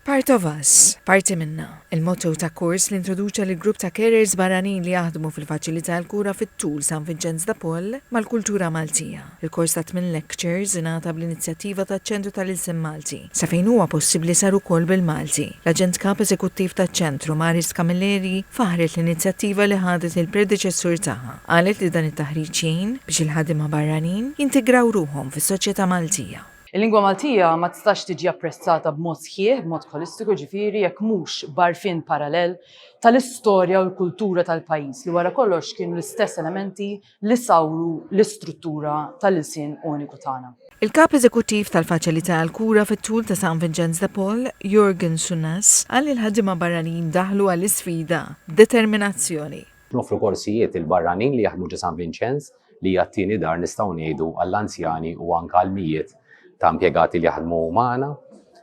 Part of us, Parti minna, il-motto ta' kors li introduċa lill-grupp ta' carers barranin li jaħdmu fil-Faċilità għall-Kura fit-Tul San Vinċenz de Paul mal-kultura Maltija. Il-kors ta' tmien lectures ingħata bl-inizjattiva taċ-Ċentru tal-Ilsien Malti. Sa fejn huwa possibbli sar ukoll bil-Malti. L-Aġent Kap Eżekuttiv taċ-Ċentru, Maris Camilleri, faħħret l-inizjattiva li ħadet il-predeċessur tagħha. Qalet li dan it-taħriġ jgħin biex il-ħaddiema barranin jintegraw ruħhom fis-soċjetà Maltija. Il-lingwa Maltija ma tistax tiġi apprezzata b'mod sħiħ, b'mod ħolistiku jiġifieri, jekk mhux b'għarfien parallel tal-istorja u l-kultura tal-pajjiż li wara kollox kienu l-istess elementi li sawru l-istruttura tal-ilsien uniku tagħna. Il-Kap Eżekuttiv tal-Faċilità għall-Kura fit-Tul ta' San Vinċenz de Paul, Jurgen Sunas, qal li l-ħaddiema barranin daħlu għall-isfida b'determinazzjoni. Noffru korsijiet lill-barranin li jaħdmu ġo San Vinċenz li hija t-tieni dar nistgħu ngħidu għall-anzjani u anke għal mijiet ta' impjegati li jaħdmu magħna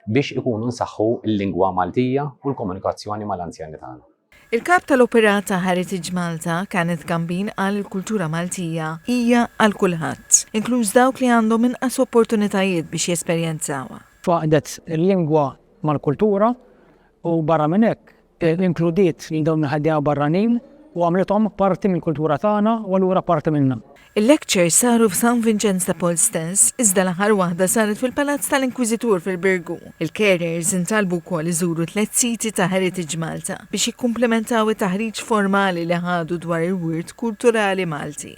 biex ikunu nsaħħu l-lingwa Maltija u l-komunikazzjoni mal-anzjani tagħna. Il-Kap tal-Operata Heritage Malta, Kenneth Gambin qal li l-kultura Maltija hija għal kulħadd, inkluż dawk li għandhom inqas opportunitajiet biex jesperjenzawha. Faqdet il-lingwa mal-kultura u barra minn hekk Inkludiet lil dawn il-ħaddiema barranin u għamlithom parti mill-kultura tagħna u allura parti minna. Il-lectures saru f'San Vinċenz ta' Paul stess, iżda l-aħħar waħda saret fil-Palazz tal-Inkwiżitur fil-Birgu. Il-carers intalbu wkoll iżuru tliet siti ta' Heritage Malta biex jikkumplimentaw it-taħriġ formali li ħadu dwar il-wirt kulturali Malti.